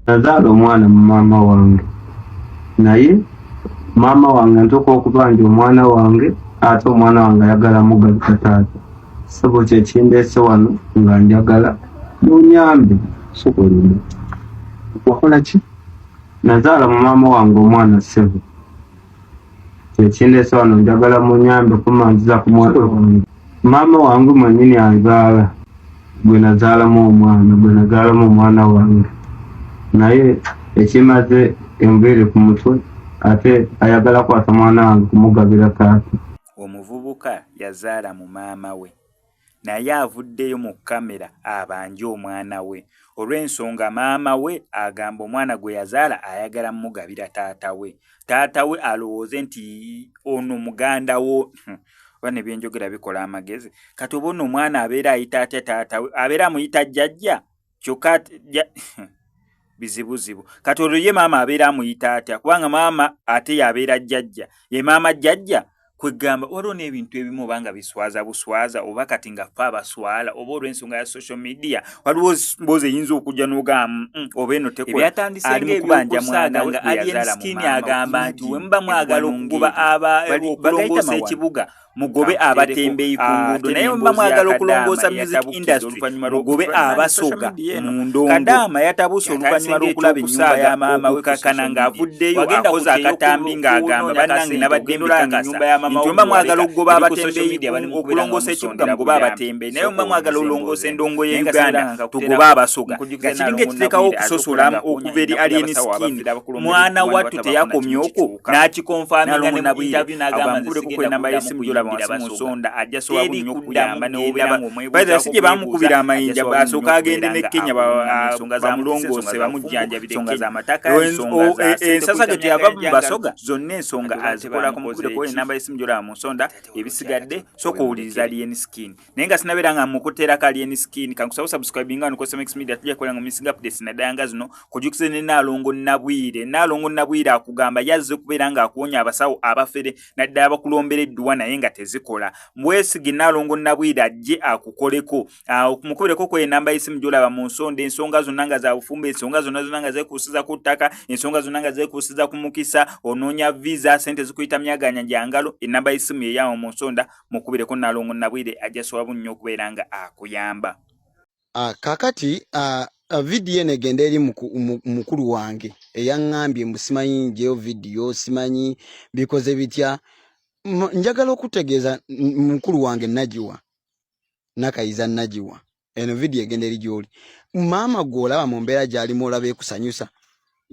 nazaala omwana mu maama wange naye maama wange ntuka okubanja omwana wange ate omwana wange ayagala mugaluka taata sebo kyekindeese wano nga njagala munyambe sokolina wakola ki Nazaala mu maama wange omwana ssebo kyekindeesa wano njagala munyambe kumanziza ku mwana wange maama wange mwenyini anzaala gwe nazaalamu omwana gwe nazaalamu omwana wange naye ekimaze enviiri ku mutwe ate ayagala kwata mwana wange kumugabira taata omuvubuka yazaala mu maama we naye avuddeyo mu kkamera abanje omwana we olw'ensonga maama we agamba omwana gwe yazaala ayagala mmugabira taata we taata we alowooze nti ono muganda wo oba ne byenjogera bikola amagezi kati oba ono omwana abeera ayita atya taata we abeera amuyita jjajja kyokka bizibuzibu kati olwo ye maama abeera amuyita atya kubanga maama ate yabeera jjajja ye maama jjajja kwegamba waliwo n'ebintu ebimu oba nga biswaza buswaza oba kati nga fe abaswala oba olw'ensonga ya social media waliwo mboozi eyinza okujja n'ogamu mm, oba eno tekwaalimukubanjamwanaaalienskin agamba nti wemuba mwagala okukuba abaokulongoosa ekibuga mugobe abatembeyi ku ah, nguudo naye muba mwagala okulongoosa music industry mugobe abasoga mu ndongokadaama yatabuse oluvannyuma lw'okulaba ennyumba ya maama we kakana ng'avuddeyo akoze akatambi ng'agamba bannange nabadde mbikakasa nti oba mwagala okugoba abatembeyi okulongoosa ekibuga mugobe abatembeyi naye oba mwagala olongoosa endongo ye uganda tugobe abasoga nga kiringa ekiteekawo okusosolamu okuva eri alien skin mwana wattu teyakomyoko n'akikonfaminga nabwireagambulekokuenamba yesimu gyolaba wansi mu nsonda ajja sobola buli nnyo okuyamba newobera ngaomwebaiza si gye bamukubira amayinja asooka agende ne kenya bamulongoose bamujjanjabire ensonga z'amataka ensasa ge teyava mu basoga zonna ensonga azikolako mukubireko enamba yesimu gyolaba mu nsonda ebisigadde soka owuliriza lien skin naye nga sinabeera nga mukutera ka alien skin kankusaba subscribing nga nukosa mix media tujja kukola nga missing updates na dayanga zino kujukize ne nalongo nabwire nalongo nabwire akugamba yazze kubeera nga akuwonya abasawo abafere naddala bakulombera edduwa naye nga tezikola mwesige nalongo nabwire ajje akukoleko ah, mukubereko ku enamba y'essimu gy'olaba mu nsonda ensonga zonna nga za bufumbo ensonga zonna zonna nga zeekuusiza ku ttaka ensonga zonna nga zeekuusiza ku mukisa onoonya visa sente zikuyita myaganya gya ngalo enamba y'essimu yeyawo mu nsonda mukubireko nalongo nabwire ajja swabu nnyo okubeera nga akuyamba ah, kakati ah, ah, vidiyo eno egenda eri mukulu wange eyaŋŋambye mbu simanyi njeyo vidiyo simanyi bikoze bitya njagala okutegeeza mukulu wange nagiwa nakayiza nagiwa eno vidiyo egenda eri gy'oli maama gw'olaba mu mbeera gy'alimu olaba ekusanyusa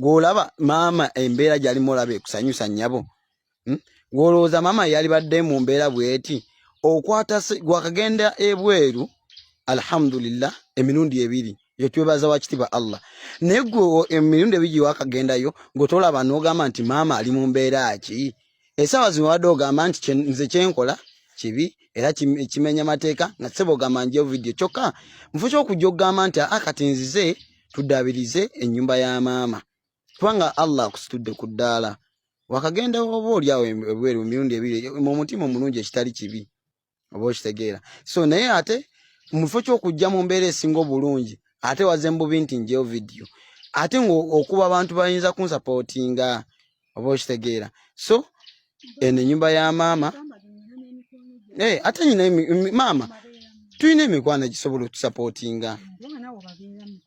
gw'olaba maama embeera gy'alimu olaba ekusanyusa nnyabo hmm? gw'olowooza maama yalibadde mu mbeera bw'eti okwata gwakagenda ebweru alhamdulillah emirundi ebiri yo twebaza wa kitiibwa allah naye gwe emirundi ebiri wakagenda yo gwetolaba n'ogamba nti maama ali mu mbeera ki Esawa zino wadde ogamba nti nze kyenkola kibi era kimenya mateeka nga sebo ogamba nje video kyokka nfuza okujja okugamba nti a ah, kati nzize tuddaabirize ennyumba ya maama kubanga allah akusitudde ku ddaala wakagenda oba oli awo ebweru emirundi ebiri mu mutima omulungi ekitali kibi oba okitegeera so naye ate mu kifo ky'okujja mu mbeera esinga obulungi ate waze mbubi nti njeyo vidiyo ate ngaokuba abantu bayinza kunsapootinga oba okitegeera so eno enyumba ya maama eh, ate nyina maama tulina emikwano egisobola otusapootinga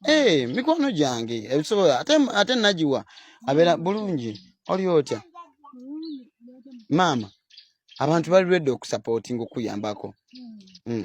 eh, mikwano gyange ebisobola ate nagiwa abeera bulungi oli otya maama abantu bali ready okusapotinga okuyambako mm. mm.